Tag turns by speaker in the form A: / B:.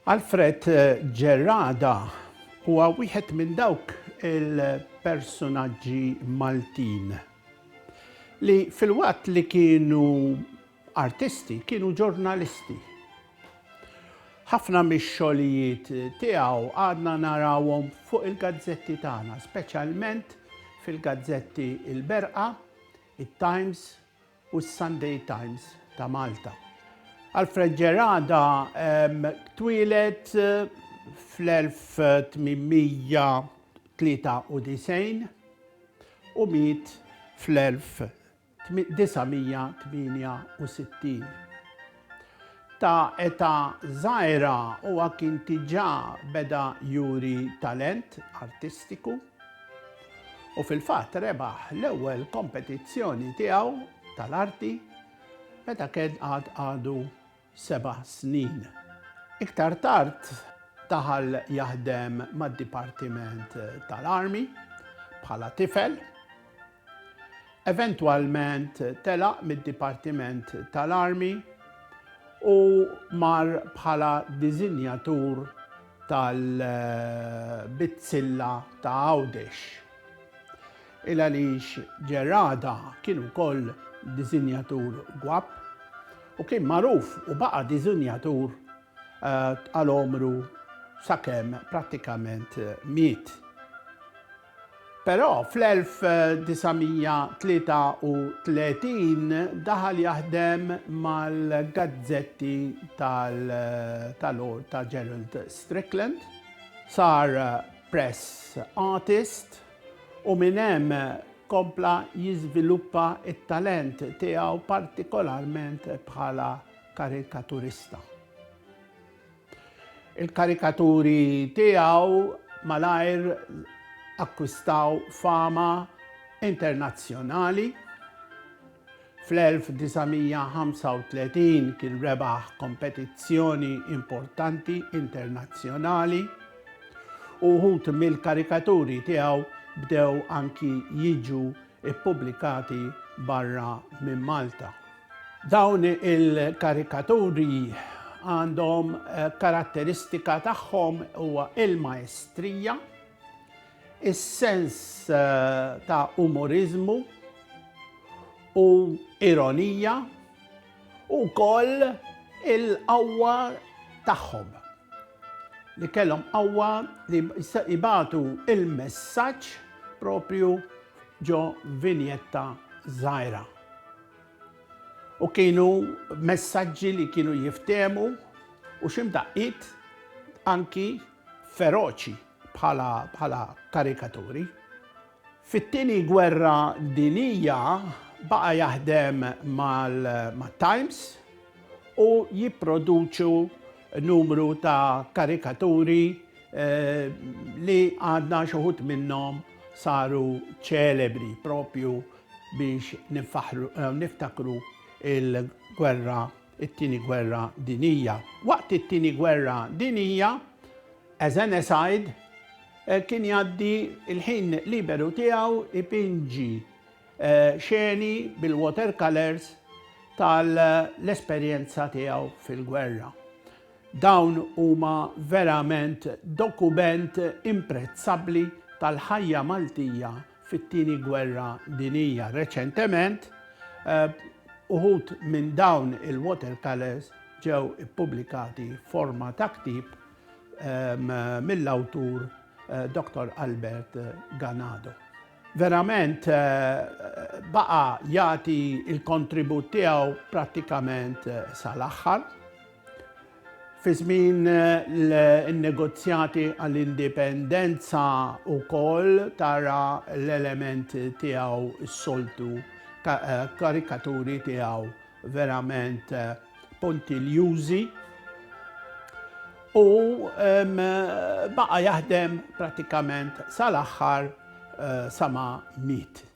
A: Alfred Gerada huwa wieħed minn dawk il-personaġġi Maltin li filwaqt li kienu Artisti kienu ġurnalisti. Ħafna mix-xogħlijiet tiegħu għadna narawhom fuq il-gazzetti tagħna, speċjalment fil-gazzetti Il-Berqa, it-Times u s-Sunday Times ta' Malta. Alfred Ġerada twieled fl-1893 u miet fl-1900. 968. Ta' età żgħira huwa kien diġà beda juri talent artistiku u fil-fatt rebaħ l-ewwel kompetizzjoni tiegħu tal-arti meta kien għad għadu seba' snin. Iktar tard daħal jaħdem mad-Dipartiment tal-Army bħala tifel. Eventwalment telaq mid-Dipartiment tal-Army u mar bħala diżinjatur tal-bizzilla ta' Għawdex. Il għaliex Gerada kien ukoll diżinjatur gwapp u kien magħruf u baqa' diżinjatur għal għomru sakemm prattikament miet. Però fl-1933 daħal jaħdem mal-gazzetti tal-Lord ta' Gerald Strickland, sar press artist, u minn hemm kompla jiżviluppa t-talent tiegħu partikolarment bħala karikaturista. Il-karikaturi tiegħu malajr akkwistaw fama internazzjonali, Fl-1935 kien rebaħ kompetizzjoni importanti internazzjonali u wħud mill-karikaturi tiegħu bdew anki jiġu ppubblikati barra minn Malta. Dawn il-karikaturi għandhom eh, karatteristika tagħhom huwa il-maestrija, Is-sens ta' umoriżmu u ironija u wkoll il-qawwa tagħhom li kellhom qawwa li jibatu il-messaġġ propju ġo vinjetta żgħira. U kienu messaġġi li kienu jiftemu u ximdaqqit anki feroċi bħala bħala karikaturi. Fit-Tieni Gwerra Dinija baqa' jaħdem mat-Times u jipproduċu numru ta' karikaturi li għadna xi wħud minnhom saru ċelebri propju biex niftakru l-gwerra it-Tieni Gwerra Dinija. Waqt it-Tieni Gwerra Dinija, Ezen Esaid kien jgħaddi l-ħin liberu tiegħu ipinġi xeni bil-watercolors tal-esperjenza tiegħu fil-gwerra. Dawn huma verament dokument imprezzabbli tal-ħajja Maltija fit-Tieni Gwerra Dinjija. Reċentement, uħud minn dawn il-watercolors ġew ippubblikati forma ta' ktieb ehm, mill-awtur eh, Dr. Albert Ganado. Verament eh, baqa jagħti il-kontribut tiegħu prattikament eh, sal-aħħar. Fi żmien in-negozjati għall-indipendenza wkoll tara l-element tiegħu s-soltu ta' karikaturi tiegħu verament puntiljużi u baqa' jaħdem prattikament sal-aħħar sa ma miet.